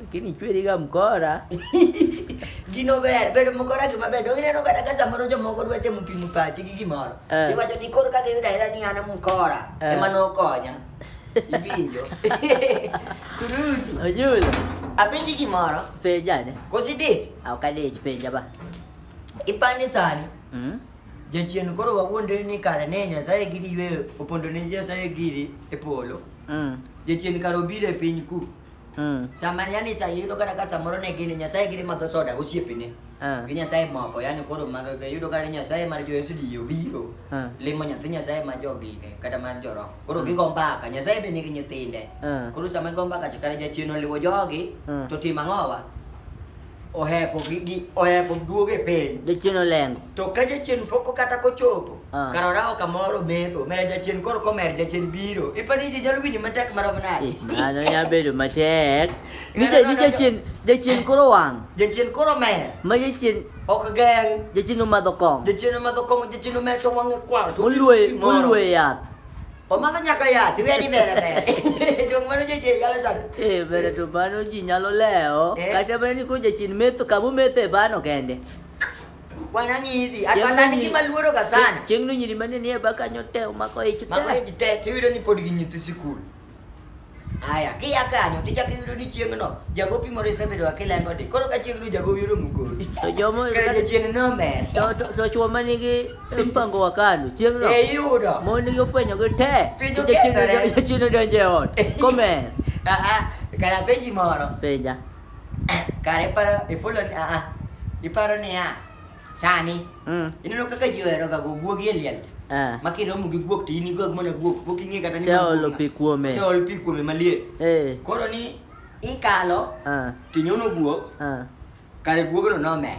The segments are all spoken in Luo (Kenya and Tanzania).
Lakini chweri ga mkora. Gino ber, bedo mkora gima ber. Donge neno kata ka samoro jomoko dwa temo pimo pachi gi gimoro. Eh. Tiwacho ni koro kaka iyudo ahera ni an e mkora eh. ema nokonya. Iwinjo. Kurutu. Ojul. Apenji gimoro. Penja ne. Kosi dich? Ah, ok adich, penja ba. Ipani sani. Mm. Jachien koro wawuondre ni kare ne Nyasaye giri yweyo opondo ne Nyasaye giri e polo. Mm. Jachien kare obiro e piny ku. Mm. Samani yani sa yudo kata ka samoro ne gini Nyasaye giri madho soda gosiepene. Ah. Gi Nyasaye moko yani koro mag yudo kata Nyasaye mar jo SDO biro. Ah. Limo nyathi Nyasaye ma jo gine kata mar jo roho. Koro mm. gigo mbaka Nyasaye be nigi nyithinde. Ah. Koro sama gigo mbaka chakare jachien oliwo jogi mm. to tim ang'owa. ohepo gi, gi ohepo duogo e piny jachien olengo to ka jachien pok kata kochopo Ah. kar orawo kamoro metho mere jachien koro komer jachien biro ipani ji nyalo winjo matek marom nade Eh, mano nyalo bedo matek ni ja- ni jachien jachien koro wang' jachien koro mer ma jachien ok geng jachien omadho kong' jachien omadho kong'o jachien omer to wang'e kwar to oluoye gimoro. oluoye yath O mano nyaka yath, iwe ni bere bere. Dong mano jachien nyalo sando. Eh, bere to mano ji nyalo lewo. Eh. Kata bere ni ko jachien metho kama omethe bano kende. Bwana nyizi, atwata ni kima luoro ga sana. Chieng' no nyiri mane nie baka nyote omako ich te. Mako ich te, tiwiro ni pod gi nyithi sikul. Aya, kia kanyo to ichako iyudo ni chieng'no jago pimore isebedo ka kilengo di. Koro ka chieng'no jago yoro mukori. To jomo Kare jachien nomer. to to, to chwo ma nigi mpango wa kano chieng'no E yudo. mon nigi ofwenyo gi te Fidho kethore. jachien odonjo e ot komer Aha, kara penji moro. penja Kare paro ifulo ni aha. Iparo ni ah. sani mm. ineno kaka ji oheroga go guogi e liel eh. ma kiromo gi guok to in igog mana guok pok ing'e kata niseolo pi kuome seolo pi kuome maliet eh. koro ni ikalo eh. tinyono guok kare guogno nomer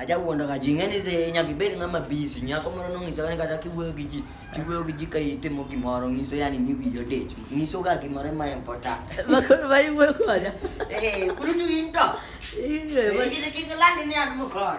aja wuondo ka ji ng'eni se nyaka ibed ng'ama busy nyako moro nong'iso kani kata kiwuoyo gi ji tiwuoyo gi ji ka itimo gimoro ng'iso yani ni wiyi odich ng'iso ga gimoro ma important Bakuru bayi mwe konya. eh kuru tu into Iye bayi. Ingine kingilandi ni anu mukor